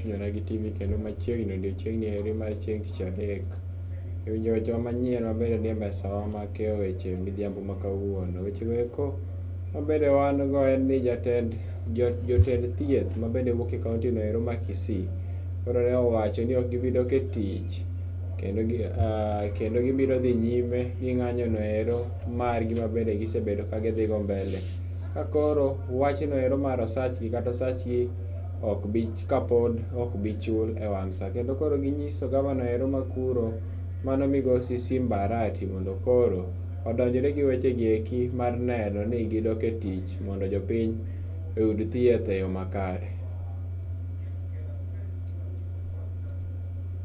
chunyona gi TV kendo machiegni odiechiengni eri mar chieng' tich adek. E winjo wechewa manyien maber e mbesawa ma keyo weche midhiambo ma kawuono. Wechego eko mabende wan go en ni jatend jotend thieth mabende wuok e kaontino ero ma Kisii koro ne owacho ni ok gibi dok e tich kendo gi, uh, kendo gibiro dhi nyime gi ng'anyo no ero margi ma bende gisebedo ka gidhigo mbele ka koro wachno ero mar osachgi kata osachgi ok bi kapod ok bi chul e wang' sa kendo koro ginyiso gavana ero makuro mano migosi simbarati mondo koro odonjore gi weche gi eki mar neno ni gidok e tich mondo jopiny oyud thieth e yo makare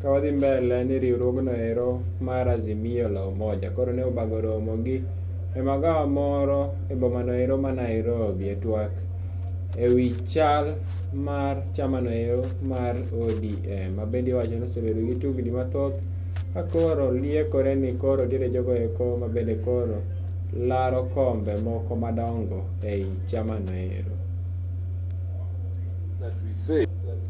Ka wadhi mbele ni riwruogno ero mar Azimio la Umoja koro ne obago romo gi e magawa moro e bomano ero ma Nairobi e twak e wi chal mar chamano ero mar ODM ma bende iwacho ni osebedo gi tugni mathoth ka koro liekore ni koro nitiere jogo eko ma bende koro laro kombe moko madongo ei chamano ero.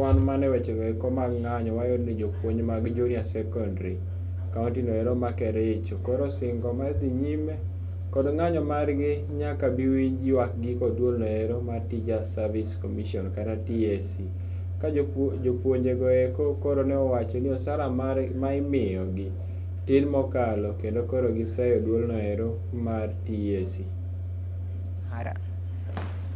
Wan mana e wechego eko mag ng'anyo wayudo ni jopuonj mag junior secondary kaunti no ero ma Kericho koro singo mar dhi nyime kod ng'anyo margi nyaka bi winj ywakgi kod duol no ero mar Teacher Service Commission kata TSC ka jopuonjego eko koro ne owacho ni osara ma imiyogi tin mokalo kendo koro giseyo duol no ero mar TSC.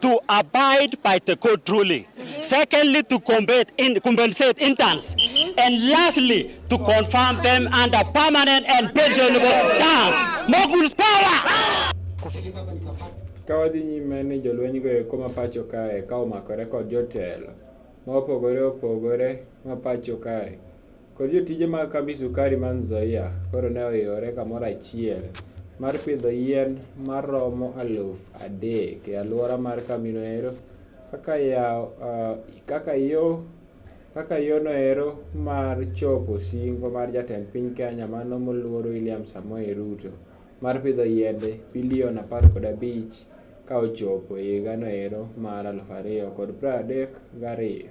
to abide by the court ruling. Secondly, to in, compensate interns. And lastly, to confirm them under permanent and pensionable terms. Moguls power! Ka wadhi nyime ni jolwenygo eko ma pacho kae ka omakore kod jotelo ma opogore opogore ma pacho kae kod jotije mag kambi sukari ma Nzoia koro ne oiwore kamoro achiel mar pidho yien maromo aluf adek e alwora mar kambino ero kaka yawo uh, kaka yo kaka yono ero mar chopo singo mar jatend piny Kenya mano moluor William Samoei Ruto mar pidho yiende bilion apar kod abich ka ochopo e higano ero mar aluf ariyo kod pradek gariyo.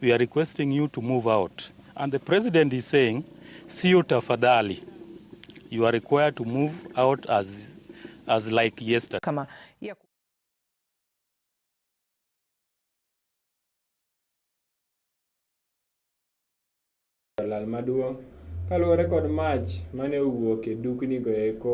We are requesting you to move out. And the president is saying, sio tafadhali. You are required to move out as, as like yesterday. Kama ya lal maduong' kaluwore kod mach mane owuok e duknigo eko